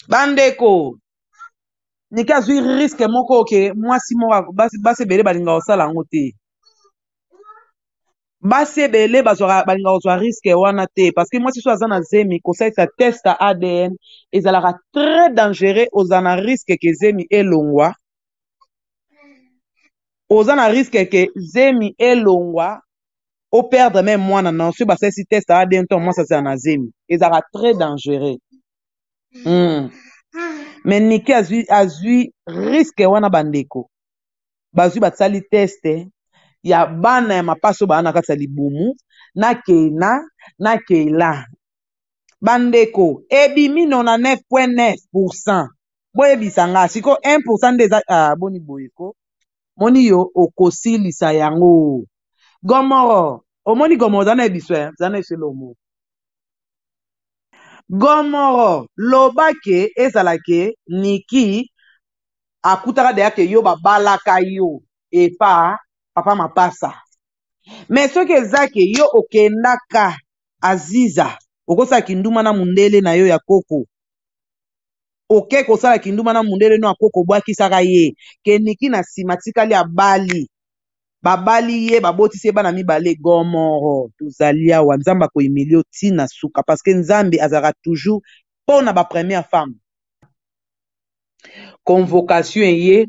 bandeko nike azwi riske moko oke mwasi moko basi ebele balingaka kosala yango te basi ebele balingaka kozwa riske wana te parce que mwasi so aza na zemi kosalisa test ya adn ezalaka très dangereux oza na riske ke zemi elongwa oza na riske ke zemi elongwa o perdre meme mwana na yo soki basalisi test aa bien ntango mwasi azala na zemi ezalaka très dangereux mm. me niki azwi azwi riske wana bandeko bazwi basali teste ya bana ya mapasi oyo baa na kati ya libumu na keina na keila bandeko ebimi 99.9 pourcent boyebisa ngai sikoyo 1 pourcent nde eza ah, boni boye ko moni yo okosilisa yango gomoro omoni gomoro zana ebiso eh? zana eselomo gomoro loba ke ezala ke niki akutaka deya ke yo babalaka yo epa papa mapasa me soki eza ke yo okendaka aziza okosala kinduma na mundele na yo ya koko oke kosala kinduma na mundele no ya koko obwakisaka ye ke niki na nsima tikali abali babali ye babotisi ye bana mibale gomoro tozali awa nzambe akoyimeli yo ti na suka parce que nzambe azalaka toujours mpo na ba première femme convocation eye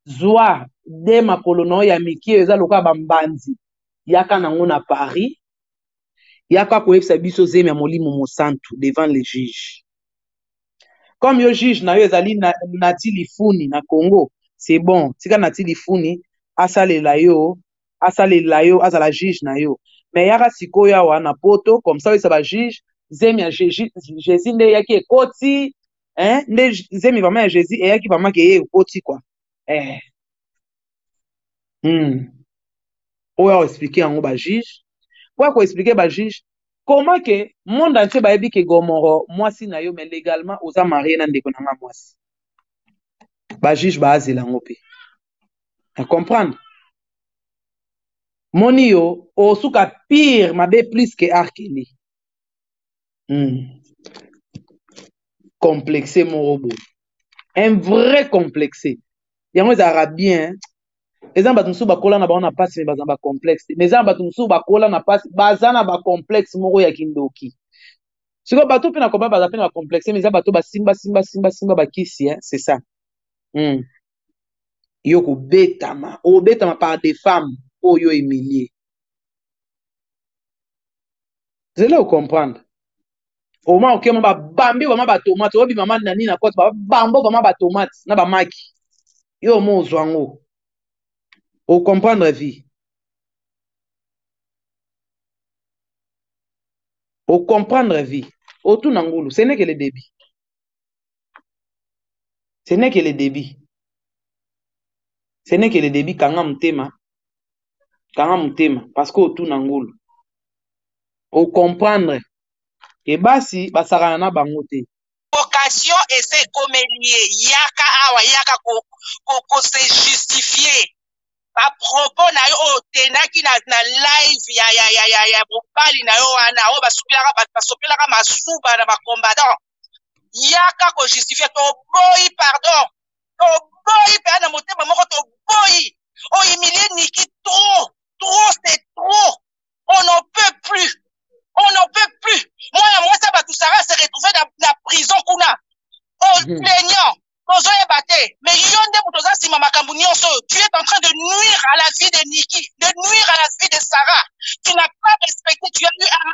zwa de makolo na yo ya mike oyo eza lokola bambanzi yaka nango na paris yaka koyebisa biso zemi ya molimo mosantu devant le juge comme yo juge na yo ezali na, nati lifuni na congo c'est bon tika nati lifuni asalela yo asalela yo azala juge na yo me yaka sikoyo awa na poto comme ça oyesa bajuge zemi ya jesus nde eyaki ekoti eh, nde zemi vraimen ya jesus eyaki vraimen ke ye ekoti kua eh. hmm. oyo ao explike yango ba juge po ya koexplike ba juge comment ke monde entier bayebi ke gomoro mwasi na yo mais legalement oza marie na ndeko na nga mwasi ba juge baazela yango mpe na comprendre moni yo osuka pire mabe plus ke arkeli complexe moko boye un vrai complexe yango ezalaka bien eza na bato mosusu bakola na bango na mpasi me baza na bacomplexe te me eza na bato mosusu bakola na mpasi baza na bacomplexe moko ya kindoki sikoyo bato mpe na koba baza mpe na bacomplexe me eza bato basimba simba simba simba bakisi eh? c'est ça mm. yo kobetama obetama par des femmes oyo emilie zela ocomprendre oma okema babambi bama batomate obima mani na nini na kote babambo bama batomate na bamaki yo omo ozwa yango ocomprendre vie ocomprendre vie otuna ngulu senekele debi ce n'est que le debut ce n'est que le debut kanga motema kanga motema parce que otuna ngulu ocomprendre ke basi basakana na bango te vocation ese ekomeli ye yaka awa yaka ko, ko, ko se justifier bapropos na yo oyo otendaki na, na live ya, ya, ya, ya, ya mobali na yo wana oyo basopelaka bato basopelaka masuba na bacombatant yaka ko justifier toboyi pardon toboyi mpe na motema moko toboyi ohumilie niki trop trop c'est trop on n'en peut plus on n'en peut plus mwana mwasi ya bato sara se retrouve na, na prison kuna au mhm. plaignant tozoyeba te mais yo nde moto oza nsima makambo nyonso oyo tu es en train de nuire à la vie de niki de nuire à la vie de sarah tu n'as pas respecté tu as eu un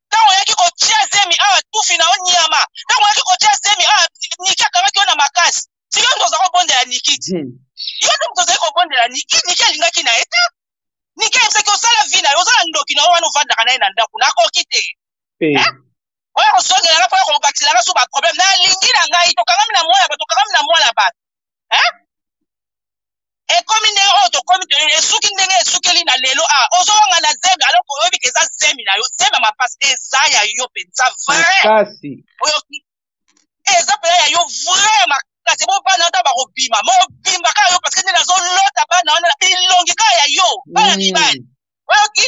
ntango oyaki kotia zemi awa tufi na yo nyama ntango oyaki kotia zemi awa niki akangaki yo na makasi siko nde oza kobondela niki ti hmm. yo nde moto ozali kobondela niki niki alingaki na ye te niki ayebisaki osala vi na yo oza na ndoki na yo wana ofandaka na ye na ndako nakoki te eh. Eh? oyo kosongelanga mpo ya kobakisela nga so baproblème nalingi na ngai tokangami na mwana bato tokangami na mwana bato hein ekomi ndenge oyo tokomi toyeli esuki ndenge esukeli na lelo a ah, ozowanga na zemi aloko oyebi ke eza zemi na yo zemi ya mapasi eza ya yo mpenza vrai oyo eza mpenza ya yo vrai makasi bo bana ata bakobima mobimba kaka yo parceke nde nazolota bana wana bilongi kaka ya yo bana mibali oyoki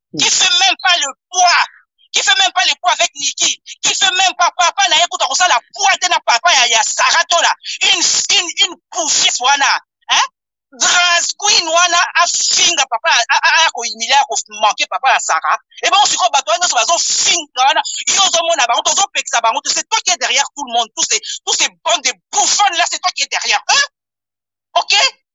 qui fait même pas le poids qui fait même pas le poids avec Niki qui fait même pas papa na ye kuta kosala poids te na papa ya, ya Sarah Tola une, une, une poufiesse wana hein? drag queen wana afinga papa aya koyimile ya komanke papa ya sara ebongo sikoyo bato wana nyonso bazofinga wana yo ozomona bango tozopekisa bango te c'est toi qui est derrière tout le monde tous ces, tous ces bandes de bouffonne là c'est toi qui est derrière eux ok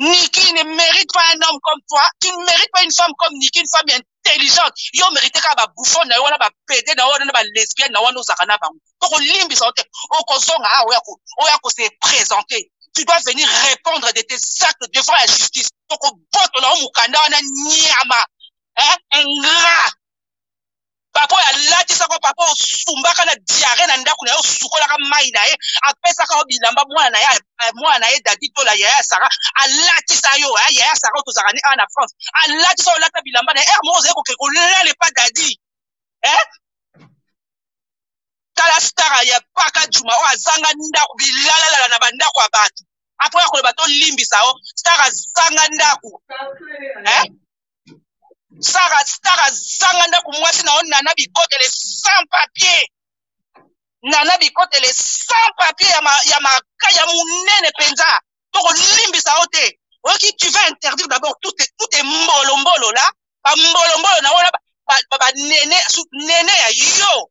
Niki ne mérite pas un homme comme toi. Tu ne mérites pas une femme comme Niki, une femme intelligente. Yo mérite ka ba bouffon na yo wana ba pede na wana ba lesbienne na wana ozaka na bango. Toko limbisa ote. Okozonga a oya ko oya ko se présenter. Tu dois venir répondre de tes actes devant la justice. Toko boto na mukanda wana nyama. Hein? Ingrat. papa oyo alatisaka papa oyo osumbaka na diare na ndako na ye osukolaka mai na ye apesaka yo bilamba mwana na ye eh, mwana na ye dadi tola yaya sara alatisa yo eh, yaya sara oyo tozalaka ne awa na france alatisa yo olata bilamba na ye ere eh, moko ozali kokende kolala epa dadi tala stara ya paka juma oyo azanga ndako bilalalala na bandako ya bato apres akoloba tolimbisa yo stara azanga ndako sara stara zanga ndako mwasi na yo nana bikotele sans papier nana bikotele sans papier ya, ma, ya, ma, ya monene mpenza tokolimbisa yo te oyoki tu vas interdire d'abord tout, tout est mbolombolo la bambolombolo na wana banene ba, ba, ba, nene ya yo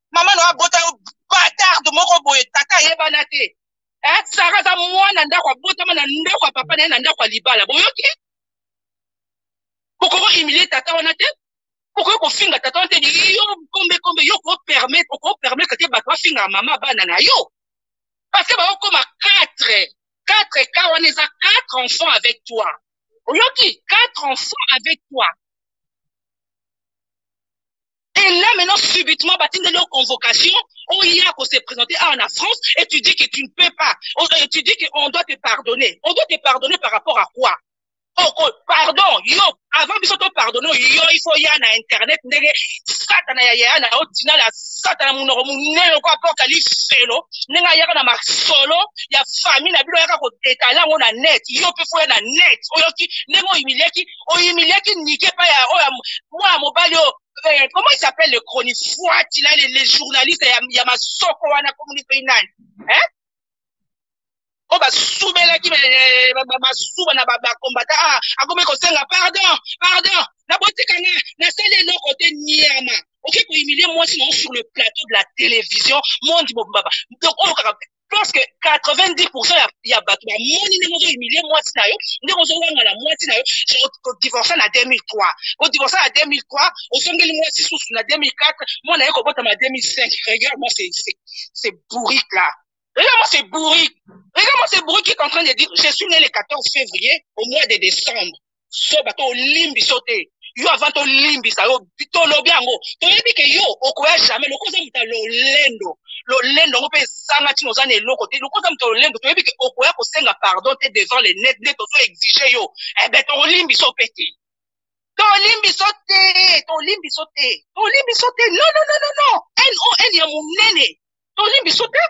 mama na abota yo batarde moko boye tata ayebana te eh, sara aza mwana ndako abotama na ndako ya papa na ye na ndako ya libala boyoki bokoki kohumilie tata wana te bokoki kofinga tata wana te yo kombe kombe yo kopermettre okopermettre te bato bafingaka mama bana na yo parce que bakokoma quatre quatre ka wana eza quatre enfants avec toi oyoki quatre enfants avec toi Et là, maintenant, subitement, bah, tu une convocation, on y a qu'on s'est présenté ah, en France, et tu dis que tu ne peux pas. On, euh, tu dis qu'on doit te pardonner. On doit te pardonner par rapport à quoi Oh, oh pardon, yo, avant de te pardonner, yo, il faut y aller à Internet, ndege, satana ya ya na otina la satana munoro munene ko apocalypse selo, nenga yaka na masolo, ya famille na bilo yaka ko étaler ngo na net, yo pe faut ya na net, oyo ki, nengo humilier ki, oyimiliaki nike epai ya oyo mwana mobali oyo eh, comment il s'appelle le chronifuati na le journaliste ya, ya masoko wana komoni mpe nani eh? oyo basubelaki eh, masuba na bakombata ah, akomi kosenga pardon pardon nabotikana nasali eloko te niama oke kohumilie mwasi nango sur le plateau de la télévision monde mobimba donc oyo kaka parce que 90% ya, ya bato bamoni ndenge ozohumilie mwasi na yo ndenge ozowangana mwasi na yo kodivorce na 2003 kodivorce na 2003 ozongeli mwasi susu na 2004 mwana ye kobotama 2005 regarde moi c'est bourrique là Regarde-moi ce bourrique. Regarde-moi ce bourrique qui est en train de dire, je suis né le 14 février au mois de décembre. zoba to olimbi so te yo avant tolimbisa yo tolobi yango toyebi ke yo okoya jamais lokola oza moto ya lolendo lolendo yango mpe ezanga ntina oza na eloko te lokola oza moto ya lolendo toyebi ke okoya kosenga pardon te devant le net nde tozo exige yo ebe eh tolimbiso mpe te tolimbiso te tolimbiso te tolimbiso te non non non non non non ya monene toli biso te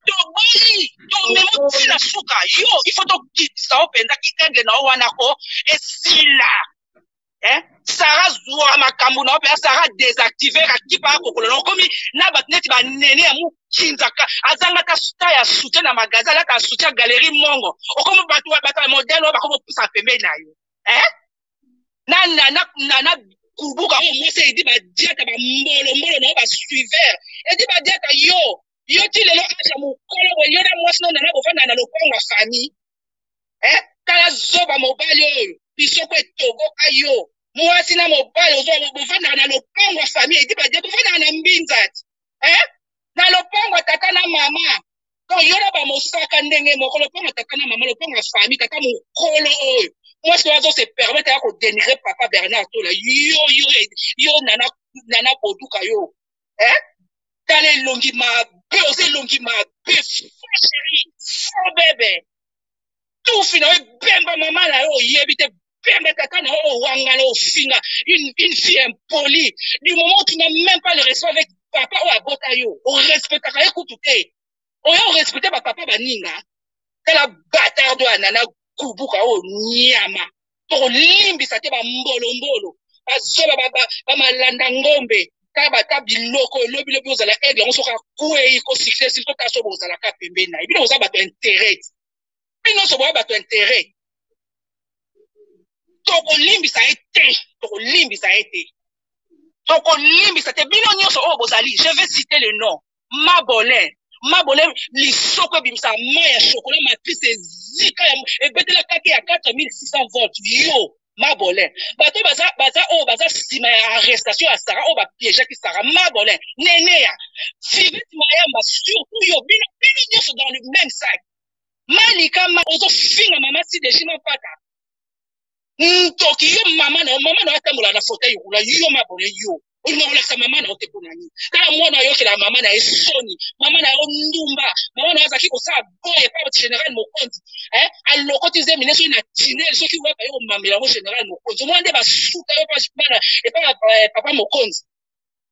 toboyi tomemo ti na suka yo ifo tokitisa yo mpenza kienge na yo wana ko esila eh? sara zwa makambo na yo mpenza sara desactive akipa akokolo na okomi na bato neti banene ya mokinzaka azangaka sta ya soutien na magasin alaka soutien galerie mongo okomi bato ya modele oyo bakomi opusaka pembeni na yo eh? na na na na, na kubuka oyo mwasi edi badiata bambolombolo na yo basuiveur edi badiata yo yo ti lelo aza mokolo boye yo na mwasi nonana bofanda na lopango ya famille eh? tala zoba mobali oyo lisoko etoboka yo mwasi na mobali ozwa bofandaka na lopango ya famille edi badia bofandaka na mbinzati eh? na lopango ya tata na mama to yo na bamosaka ndenge moko lopango ya tata na mama lopango ya fami tata mokolo oyo mwasi oyo azose permete ya kodenigre papa bernard tola yo yo yo nana, nana boduka yo eh? tala elongi mabe oza elongi mabe fo sheri fo bebe tufi na yo ebemba mama na yo oyebi te pembe kaka na oyo wangana ofinga une, une fille impolie du moment où tu n'as même pas le respect avec papa oyo abota yo orespectaka ye kutu te oya orespecte bapapa baninga tala batardo ya nana kubuka oyo nyama tokolimbisa te bambolombolo bazoba bamalanda ngombe kabata biloko lobi lobi ozala aigle yango soki akwei kosikle sili totaso bozalaka pembeni na ye bino boza bato interet bino so boya bato interet tokolimbisa ye te tokolimbisa ye te tokolimbisa te bino nyonso oyo bozali je vais citer le nom mabolin mabolin lisoko ebimisa ma ya chokola matrice ezika ebetela kake ya 4600 volt yo mabolin bato baza baza oyo baza nsima ya arrestation ya sara oyo bapiejaki sara mabolin neneya fivete mayamba surtout yo bino bino nyonso dans le même sac malika ma ozofinga mama sideji mapata ntoki yo mama na yo mama na yo atambola na fauteuil roulant yo mabole yo olinga kolakisa mama na yo te mpo na nini kala mwana ayokela mama na ye soni mama na yo ndumba mama na yo azalaki kosala boye epa général mokonzi eh, alokoti zemi ne soki na tinel soki weba yo komamela yango général mokonzi omona nde basuta yo epa eh, papa mokonzi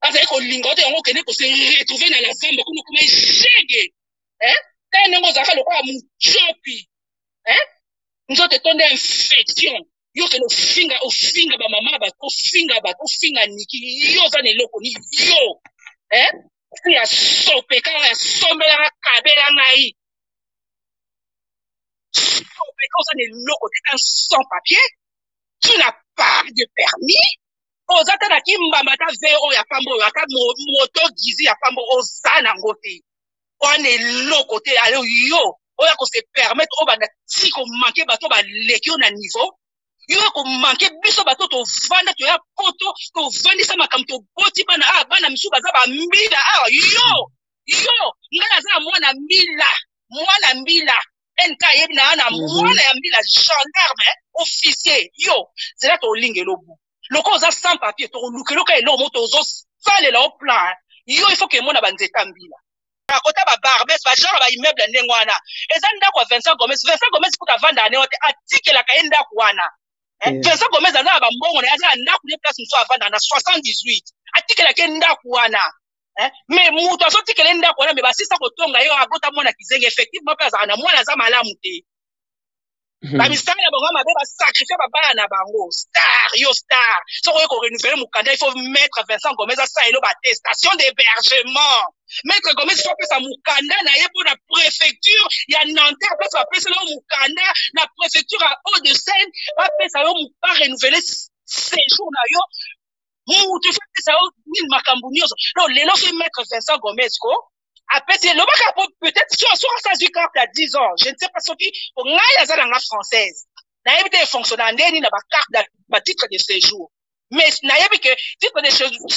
azali kolinga ote yango okende kose retrouve na lazamba kuna okoma eshege eh? tala ndenge ozalaka lokola mocopi eh? nzoto etonda infection yo okende ofinga ofinga bamama ya bato ofinga bato ofinga niki yo oza na eloko ni yo eh? si ya sopeka ya sombelaka kabela ngai sopeka oza na eloko te un sans papier tu na pas de permis oza ata na kimbamba ata ve oyo ya pamba oyo ata moto gizi ya pamba oza nango te wana eloko te alo yo oyo akose permettre oyo banda ti komanke bato baleki yo na niveau yo ekomanke biso bato tovanda toya poto tovandisa makambo toboti bana awa ah, bana misusu baza bambila awa ah, yo yo ngai naza na mwana mbila mwana mbila NK yebi na ana mhm. mwana ya mbila gendarme officier yo zela tolinga elobu loko oza sans papier tokoluka eloka eloko moto ozosalela o plan yo il faut ke emona banzeta mbila akota ba barbes ba genre ba immeuble ya ndenge wana eza ndako ya Vincent Gomez Vincent Gomez kuta avanda ane wate atikelaka ye ndako wana eh, eh. Vincent Gomez aza na bambongo na ye aza na ndako ne place mosusu avanda na 78 atikelaka ye ndako wana eh? mais moto azotikela ye ndako wana me basisa kotonga ye abota mwana kizengi effectivement mpe azalaka na mwana aza malamu te hmm. bamisala na bango mabe basacrifie babala na bango star yo star soki oye korenouvele mokanda il faut maître vincent gomez asala elo batestation d'hébergement maître gomez fo apesa mokanda na ye mpo na préfecture ya nanterre place bapesela yo mokanda na préfecture ya haut de seine bapesa yo ba renouvele séjour na yo mutu efapesa yo nini makambo nyonso donc lelo soki maître vincent gomez ko apesi elobaka po peut-être so soki asi azwi carte ya 10 ans je ne sais pas soki po ngai aza na nga française nayebi te efonctionnaka ndeni na bacarte batitre de séjour mais nayebi ke titre de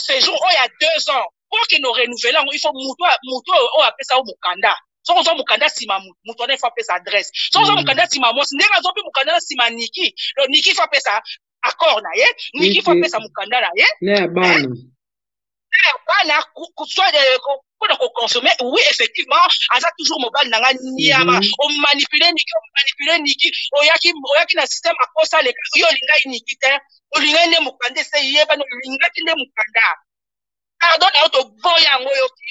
séjour oyo ya 2 ans po kende orenouvele yango il faut mutu mutu oyo apesa yo mokanda soki ozwa mokanda nsima motu motu wana ifo apesa adresse soki ozwa mokanda nsima mwasi ndenge azwa mpe mokanda na nsima niki niki ifo apesa accord na ye niki fo apesa mokanda na ye na ya bana eh, bana mpona koconsomme oui effectivement aza toujours mobali na ngai niama mhm. omanipule niki omanipule niki oyaki oyaki na système akosa leka yo olingai niki te olingai nde mokanda ese yebani olingaki nde mokanda pardon na yo toboya yango yoki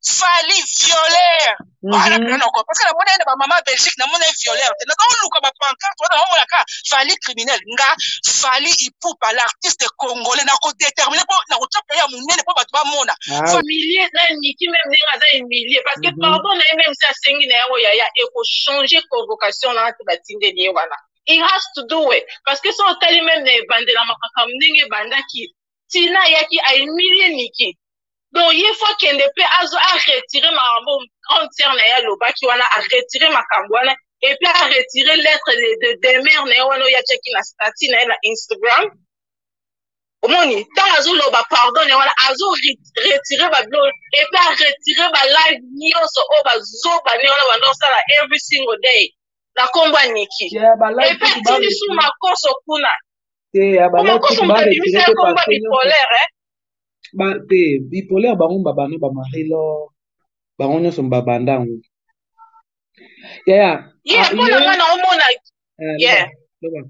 fali violeur mhm. wana mpena noko parce que namona ye na bamama belgique namona ye violeur te nazoluka bapancarte wana naomonaka fali criminel nga fali ipupa l'artiste congolais nakodetermine mpo nakotya mpe ya monene mpo bato bamona ah. humilie na niki meme ndenge aza humilie parce que mhm. pardon na ye meme si asengi na yango yaya ekochange convocation na ati batindeli ye wana he has to do it parce que so otali meme na ebandela makambo ndenge ebandaki tina ayaki a humilie niki donc ye fo akende mpe azo aretire makambo grande sœur na ye alobaki wana aretire makambo wana epuis aretire lettre de demeure na ye wana oyo atyaki na statut na ye na instagram omoni ntango azoloba pardon na ye wana azo retire babilo epuis aretire balive nyonso oyo bazoba ne wana banda osala every single day na nkombo ya niki epuis atindi su makoso kuna te ya ba Kuna love koso sick moto ba abimisa retire ye te kombo ya parfum nyonso bipolaire eh. ba te bipolaire bango ba bana ba marie lor bango nyonso ba banda yango yaya Ye ah, mpo na ye nga na omona eh, loba yeah. loba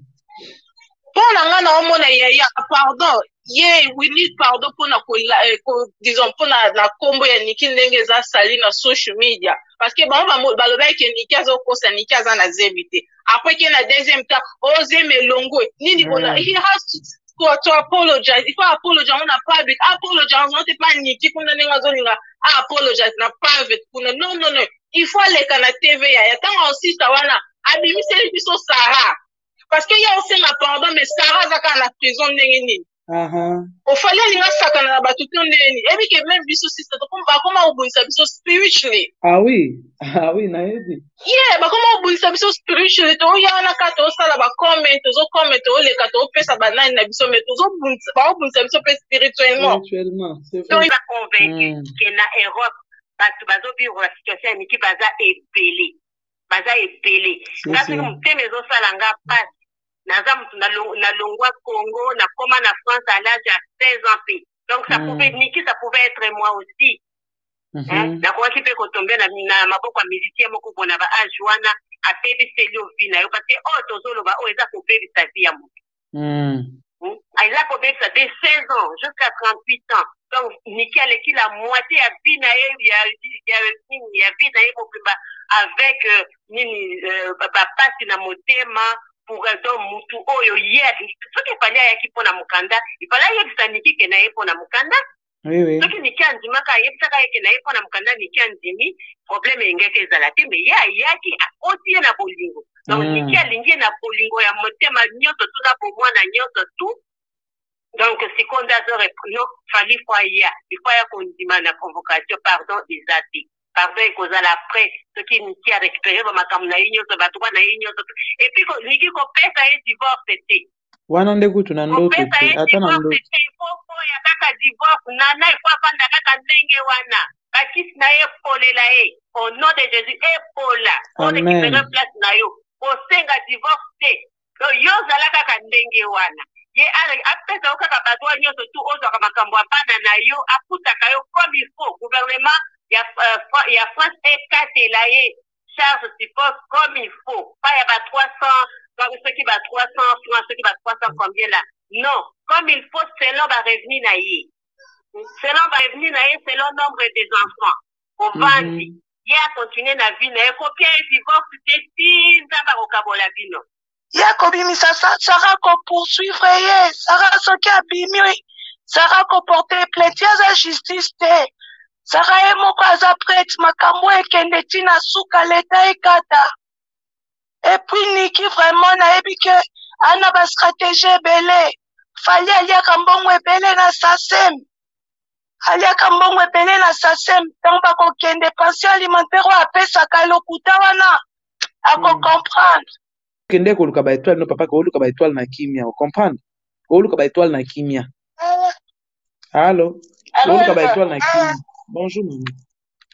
mpo na nga na omona yaya pardon ye wili pardon mpo na kola eh, ko, disons mpo na na kombo ya niki ndenge eza sali na social media parce que bango bamo- balobaki ke niki azokosa niki aza na zebi te après qu'il y a deuxième temps oh zeme elongwe nini mm. bona he has to to, to apologize il faut apologize on a public apologize on te pas niki kuna ndenge azolinga apologize na private kuna non non non il faut aleka na tv yaya ntango osista wana abimiseli biso sara parce que ye osenga pardon mais sara aza kaka na prison ndenge nini Aha. ofali alinga asakana na bato to ndeni eyebi ke meme biso sista tokoma- bakoma kobundisa biso spiritually Ah oui, ah oui, nayebi. ye bakoma kobundisa biso spiritually toya wana kaka tozosala bacomment tozocomment tozoleka tozopesa banani na biso me tozobundisa bakobundisa biso mpe spirituellement Spirituellement, c'est vrai. toza convaincu Mm. ke na europe bato bazovivre na situation ya miki baza ebele baza ebele nga C'est soki ça. motema ezosala nga mpasi naza mutu nalongwa congo nakoma na france à l'âge ya 16 ans mpe donc ça mm. pouvait niki ça pouvait être moi aussi mm -hmm. nakokaki mpe kotombe na, na maboko ya musicien moko bo na baage wana abebiseli yo vi na yo parce que oyo oh, tozoloba oyo oh, eza kobebisa vi ya motu mm. hmm? ah, eza kobebisa de 16 ans jusqu'à 38 ans donc niki aleki la moitié ya vi na ye ya vi na ye mobimba avec euh, nini euh, bapasi na motema pourraison mutu oyo ye alingi soki epali ayaki mpo na mokanda epali ayebisa niki ke na ye mpo na mokanda soki niki andimaka ayebisaka yeke na ye mpo na mokanda niki andimi problème elingaki ezala te me ye ayaki akoti ye na bolingo donc mm. niki alingi ye na bolingo ya motema nyonso tu na bomwana nyonso tu donc sikoyo nde azo no fali fo aya ifo aya kondima na convocation pardon eza te pardon ekozala après soki niki a récupérer ba makambo na ye nyonso ba droit na ye nyonso et puis niki kopesa ye divorce te wana nde kutu na ndoto te ata na ndoto te po po ya kaka divorce nana il faut afanda kaka ndenge wana bakisi na ye epolela ye au nom de jésus epola orekipere place na yo kosenga divorce te do yo ozala kaka ndenge wana ye apesa yo kaka badroit nyonso tu ozwaka makambo ya bana na yo afutaka yo comme il faut gouvernement ya, uh, ya france ekatela ye charge suppose comme il faut pa ya ba 300 soki ba 300 francs soki ba 300 combien là non comme il faut selon ba revenu na ye selon ba revenu na ye selon nombre des enfants ovandi mm -hmm. ye akontinue na vie na ye kopia ye divorce te ti nzambe akokabola bino ye akobimisa sa sara kopoursuivre ye sara soki abimi sara koporte plainte ye aza justice te sara ye moko aza prete makambo ekende ti na suka leta ekata epuis niki vraiment nayebi ke ana bastratégie ebele fali aliaka mbongo ebele na sasem aliaka mbongo ebele na sasem ntango bakokende pension alimentaire oyo apesaka lokuta wana akocomprendre hmm. kende koluka baetoile no papa kooluka baetoile na kimia ocomprendre kooluka baetoile na kimia allo kooluka baetoile na kimia bonjour mama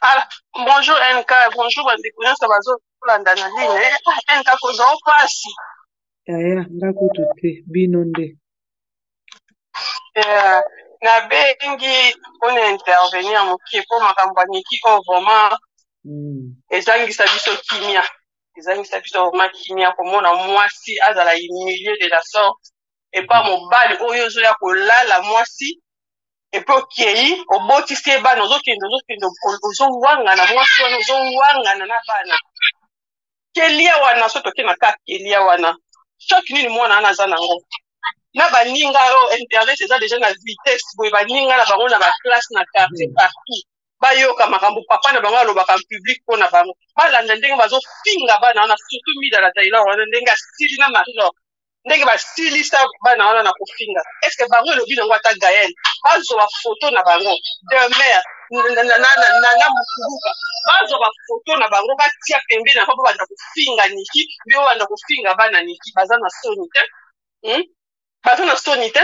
ah, bonjour nk bonjour bandeko nyonso bazolanda na line eh, nk kozwa mpasi yaya nga kutu te bino nde Yeah. nabengi mpona intervenir moke mpo makambo ya niki oyo vraiment Mm. ezangisa biso kimia ezangisa biso vraiment kimia komona mwasi azala humilie de la sorte epa mobali oyo ozoya kolala mwasi epe okei obotisi ye bana ozokende ozokende ozowangana mwasi wana ozowangana na bana kelia wana so toke na ka kelia wana choc nini mwana wana aza nango na baninga oyo oh, internet eza deja na vitesse boye baninga na bango na baklasse na quartier partout bayoka makambo papa na bango alobaka public mpo na bango balanda ndenge bazofinga bana wana surtout mida na tailor wana ndenge asili na marilor ndenge basilisa bana wana na kofinga estce bango elobi nango ata gael bazwa bafoto na bango demer na mokuluka bazwa bafoto na bango batia pembeni yango babanda kofinga niki mbi babanda kofinga bana niki baza na soni te hmm? baza na soni te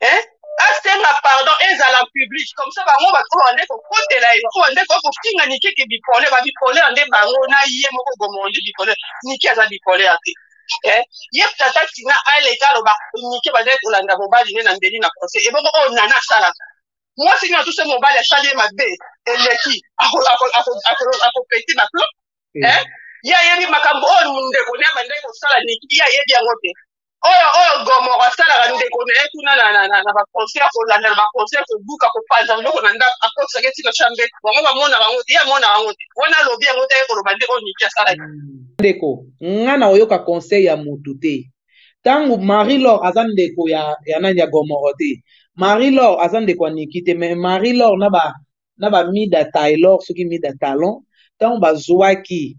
eh? asenga pardon ezala en public comme ça bango bato oyo bande kokotela ye oyo bande koya kofinga nike ke bipole babipolere nde bango na ye moko bomondi bipole nike aza bipolere te eh? ye tata tina aleka aloba nike bazali kolanda mobali ne na mbeli na conseil ebongo oyo oh, nana asalaka mwasi nini atuse mobali asali ye mabe eleki akopeti baplo ye ayebi makambo oyo ndeko ne abandaki kosala niki ye ayebi yango te oyo oyo gomoro asalaka ndeko na ye kuna na baconseil kolanda na baconseil kobuka kopanza biloko na ndako akotisaka eti na chambre bango bamonaka yango te ye amonaka yango te wana alobi yango te ye koloba nde oyo niki asalaki ndeko nga na oyoka conseil ya motu te ntango marie lor aza ndeko ya, ya nani ya gomoro te marie lor aza ndeko ya niki te mais marie lor na ba na ba mida taylor soki mida talon ntango bazwaki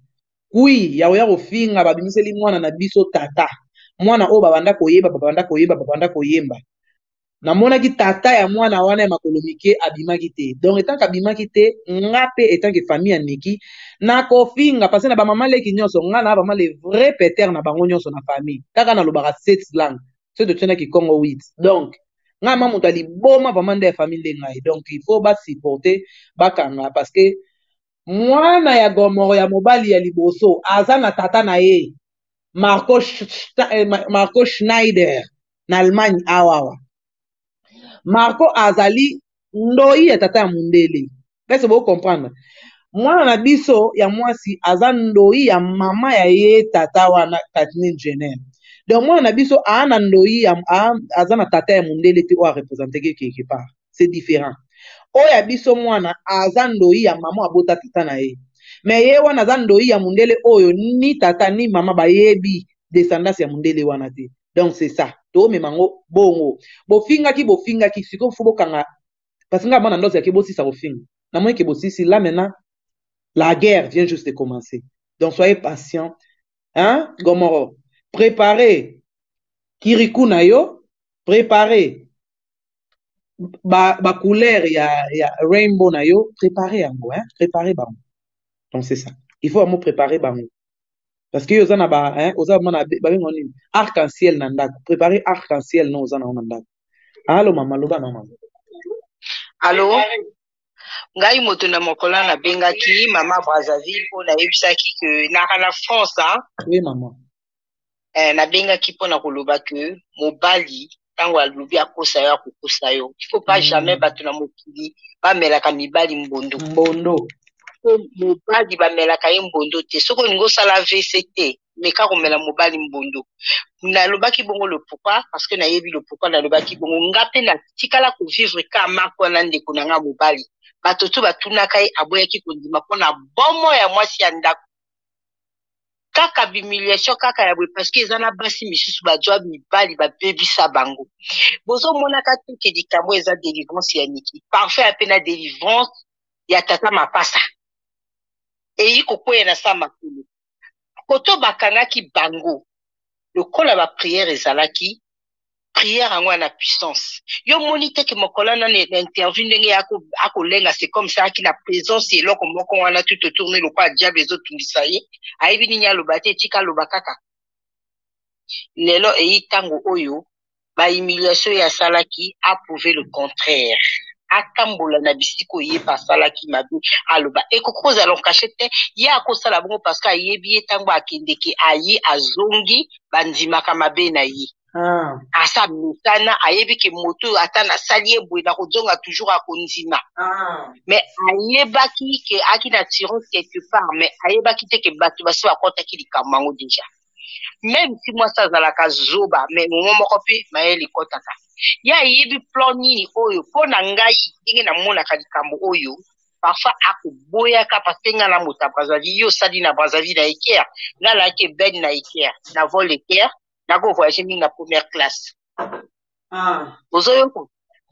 Kui ya koya kofinga babimiseli mwana na biso tata. Mwana oyo babanda koyeba, babanda koyeba, babanda koyemba. Namonaki tata ya mwana wana ya makolo mike abimaki te. Donc etanke abimaki te, nga pe etanke famille ya Nicky na kofinga parce na ba maman leki nionso nga na vraiment le vrai peter na bango nionso na famille. Kaka na lobaka sept langues. Soki totie na kikongo huit. Donc nga ma moto ya liboma vraiment nde ya famille nde ngai. Donc il faut ba supporter bakanga parce que mwana ya gomoro ya mobali ya liboso aza na tata na ye marco, eh, marco schneider na allemagne awawa marco azali ndoi ya tata ya mondele pese bocomprendre mwana na biso ya mwasi aza ndoi ya mama ya ye tata wana kathleen jenner donc mwana na biso aa na ndoi aza na tata ya mondele te oyo arepresenteke quelque part c'est different oyo ya biso mwana aza ndoyi ya mama abota tata na ye me ye wana aza ndoyi ya mundele oyo ni tata ni mama bayebi descendance ya mundele wana te donc c'est ça tomema ngo bongo bofingaki bofingaki sikoyo fo bokanga parce nga mwana ndosi yake bosisa kofinga namoni ke bosisi là maintenant la guerre vient juste de commencer donc soyez patient hein gomoro préparer kiriku na yo préparer ba, ba couleur ya, ya rainbow na yo prépare yango hein? prépare bango donc c'est ça il faut vraiment prépare bango parce que yo oza na ba hein? oza vraiment na babengo nini arc en ciel na ndako prépare arc en ciel no oza na yo na ndako alo mama loba na mama alo ngai moto na mokolo na bengaki mama brazzaville mpo nayebisaki ke naka na france hein? oui mama eh, nabengaki mpo na koloba ke mobali ntango alobi akosa yo akokosa yo il faut pas mm. jamais bato na mokili bamelaka mibali mbondo mbondo po mobali bamelaka ye mbondo te soki olingi osala vc te meka komela mobali mbondo nalobaki bongo lopokwa parce que nayebi lopokwa nalobaki bongo nga mpe natikala kovivre ka mako na ndeko na nga mobali bato to batunaka ye aboyaki kondima mpo na bomo ya mwasi ya ndako kaka bimiliation kaka ya boye parceke eza na basi misusu bajwa mibali babebisa bango bozomonaka tuke likambo eza delivrance ya niki parfum ape na delivrance ya tata mapasa eyi kokweya na sa makolo koto bakangaki bango lokola bapriere ezalaki prière yango ya na puissance yo moni te ke mokolo wana na interview ndenge ye akolenga c'est comme ça aki na présence ya eloko moko wana tout autour ne lokola diable ezotungisa ye ayebi nini aloba te etika aloba kaka lelo eyi ntango oyo ba humiliation ye asalaki approuve le contraire atambola na bisika oyo ye mpe asalaki mabe aloba ekoki kozala nkashe te ye akosala bongo parce que ayebi ye ntango akendeke aye azongi bandimaka mabe na ye ah. asa mesana ayebi ke moto oyo ata nasali ye boye nakozonga toujours akondima ah. me ayebaki ke aki na tiron quelque part me ayebaki te ke bato basi bakɔtaki likambo yango deja meme si mwasi azalaka zoba me momo moko mpe mayele ekɔtaka ye ayebi plan nini oyo mpo na ngai ndenge namonaka likambo oyo parfois akoboyaka parce que nga na moto ya brazzaville yo osali na brazzaville na eker nga nayaki ebeni na eker na vol eker nako voyage mingi na première classe ah. ozoyoka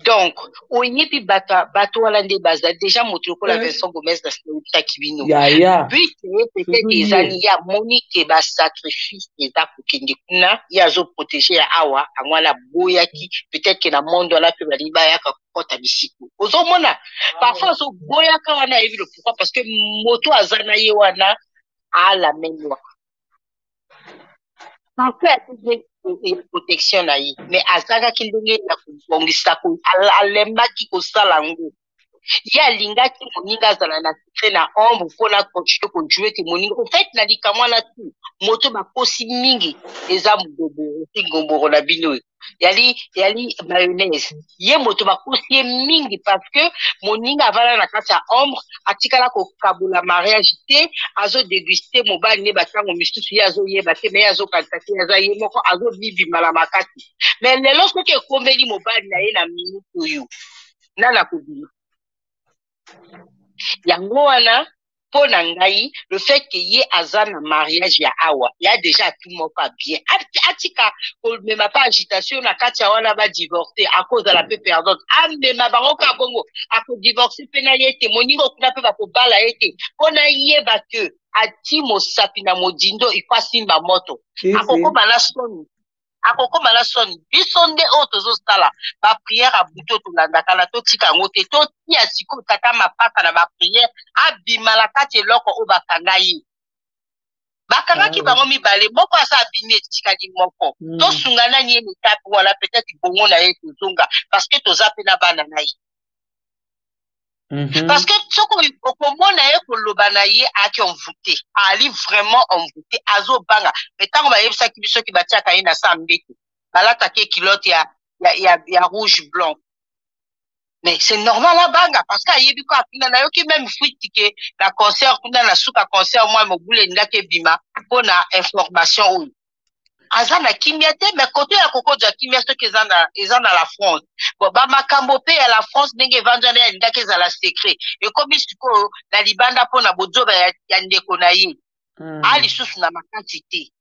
donc oyebi bato bato wana nde baza deja moto lokola eh. vincent gomez na sinautaki bino but ye peut-être ezali ya moni ke basacrifice eza kokende kuna ye azoprotege ya awa yango wana aboyaki peut-être ke na monde wana mpe balingi bayaka kota bisiku ozomona parfois azoboyaka wana ayebi le pourquoi parce que moto aza na ye wana alamenwa parfois akoki protection na ye mais azangaki ndenge ya kobongisa alembaki kosala yango ye alingaki moninga azala na secret na ombre mpona continue kojue ke moninga ofait na likamwa na tu moto bakosi mingi eza mgoboro ti ngomboro na bino oyo yali yali mayonnaise ye moto bakosi ye mingi parce que moninga avanda na kati ya ombre atikala kokabola mariage te azodeguste mobali ne batango misusu ye azoyeba te me ye azokanisa te aza ye moko azobibima na makasi me lelo soki ekomeli mobali na ye na minute oyo nani akobima yango wana mpo na ngai le fait que ye aza na mariage ya awa ya deja atu moko ya bien atika komema mpe agitation na kati ya wana badivorce akozala mpe perdante amema bango ka bongo akodivorce mpe na ye te moningo kuna mpe bakobala ye te mpo nayeba ke ati mosapi na modindo iko asimba moto akokoma na soni akokoma na soni biso nde oyo tozosala bapriere ya buto tolandaka na totika yango te totia sikoyo tata mapasa na bapriere abima na kati eloko oyo bakanga ye bakangaki ah, bango mibale moko aza abimi etikali moko mm. tosunga nani ye mitape wana peut-être bongo na ye tozonga parce que toza mpe na bana na ye Mm -hmm. Parce que soki okomona ye koloba na ye ayaki envoute ali vraiment envoute azobanga me ntango bayebisaki biso ki batiaka ye na sa mbeto balataki ye kilote ya, ya, ya, ya rouge blanc mais c'est normal abanga parce que ayebi ko akunda nayoki meme fuite ke na concert kuna na suka concert mwa mobulu elingaki ebima mpo na information oyo aza na kimia te mais kote ya kokoja kimia soki eza na, eza na la france bon bamakambo mpe ya la france ndenge evanzana ya ndaki ezala secret ekomi sikoyo na libanda mpo na bozoba ya, ya ndeko na ye mm. a lisusu na makasi te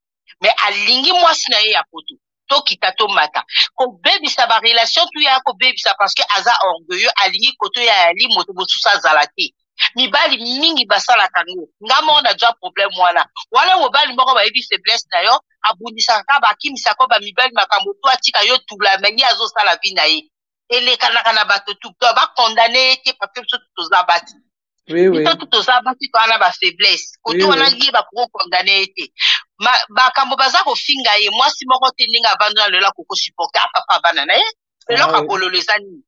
mais alingi mwasi na ye ya poto tokita tomata kobebisa barelation tu ya kobebisa parce que aza orgueilleux alingi koto ya yali moto mosusu azala te mibali mingi basalaka ngo nga moko najwa problème wana wana mobali moko bayebi faiblesse na yo abundisaka ka bakimisaka ba mibali makambo to atika yo tula me ye azosala vi na ye elekanaka na bato tu to bakondane ye te parce que biso tu toza basi biso tu toza basi toa na bafaiblesse kote wana ye bakoki okondane ye te makambo baza kofinga ye mwasi moko te ndenge avandi na lelo akokosupporte apapa bana na ye eloko ya bololo eza nini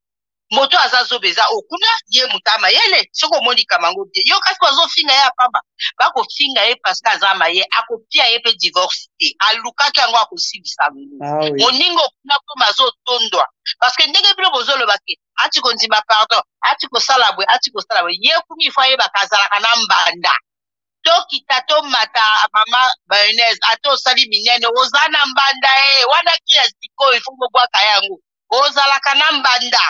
moto aza zoba eza oyo kuna ye moto amayele soki omoni kamango te yo kasi bazofinga ye apamba bakofinga ye parce que aza maye akopia ye mpe divorce te alukaki yango akosilisa lulu ah, oui. moninga okuna koma azotondwa parce que ndenge bino bozoloba te ati kondima pardon ati kosala bwe ati kosala bwe ye kumi fo ayebaka azalaka na mbanda tokita tomata mama mayonnaise ata osali minene oza na mbanda e wana kila sikoyo ifo bobwaka yango ozalaka na mbanda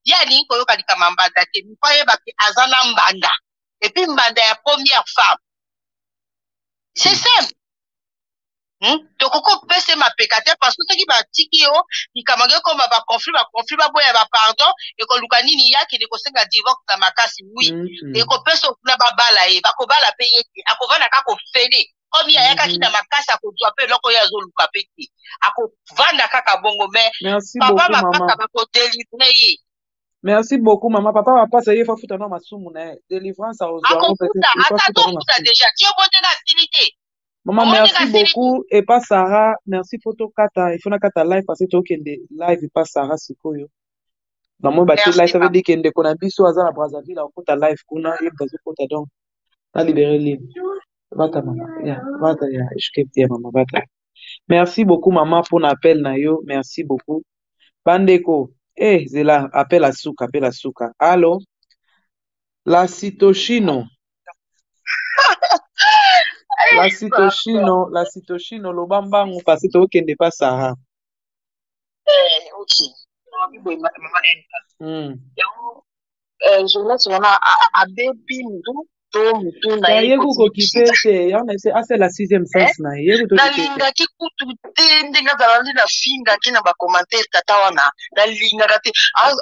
ye alingi koyoka likama mbanda te mpo ayebaki aza na mbanda epuis mbanda ya première femme c'est hmm. simple Hmm? tokoki kopesa mapeka te parce que soki batiki yo likambo yango ekoma baconflit baconflit baboya bapardon ekoluka nini ye akende kosenga divorce na makasi wi hmm, hmm. ekopesa okuna babala ye bakobala mpe ye te akovanda kaka ofele komi ayakaki na makasi akozwa mpe eloko oyo azoluka mpe te akovanda kaka bongo me papa mapasa bakodelivre ye merci beaucoup mama papa mapasa ye fafuta na masumu na ye delivrance akofuta ata tofuta deja ti obondela asili te mama merci beaucoup epa sara merci fo tokata ifo nakata live parce tokende live epa sara sikoyo namoni bati live ça veut dire ke ndeko na biso aza na brazzaville akokota live kuna ye moto azokota donc na libere libre Bata mama, ya, bata ya HKT ya mama bata. Merci beaucoup mama pona appel na yo, merci beaucoup. Bandeko, eh zela appel a suka, appel a suka. Allo? La Citochino. La Citochino, la Citochino loba mbangu parce que tokende pa Sahara. Eh, ok. Mama bibo mama enta. Hmm. Yango eh, journaliste wana abebi mutu to mutu na ye ye kokokipe te yango ese asala sixième sens eh? na ye nalingaki kutu te ndenge azalali na fingaki na bacommentaire tata wana nalingaka te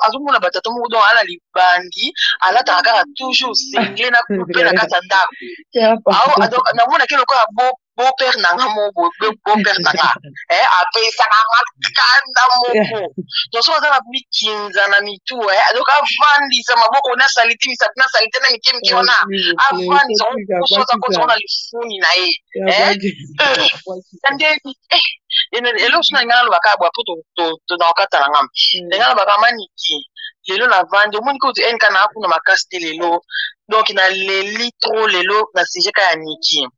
azomona batata moko donc ala libangi alataka kaka toujours sengle na coupe na kati ya ndako namonaki lokola bo beau père na nga moko beau père na nga eh, apesaka nga kanda moko toso aza na mikinza na mitu eh, donc avandisa maboko na salite misapi na salite na mike mike wana avandisa kosoza kotongo na lifuni na ye eh, eh, eloko so na nga nalobaka bwa po tozakokata na ngamba na nga nalobaka maniki lelo navandi omoni kutu nk naa kuna makasi te lelo donc naleli tro lelo na sujet ka ya niki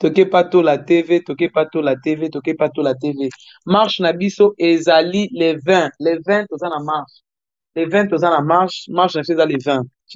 toke patola tv toke patola tv toke patola tv marche na biso ezali le 20 le 20 toza na marche le 20 toza na marche marche na biso eza le 20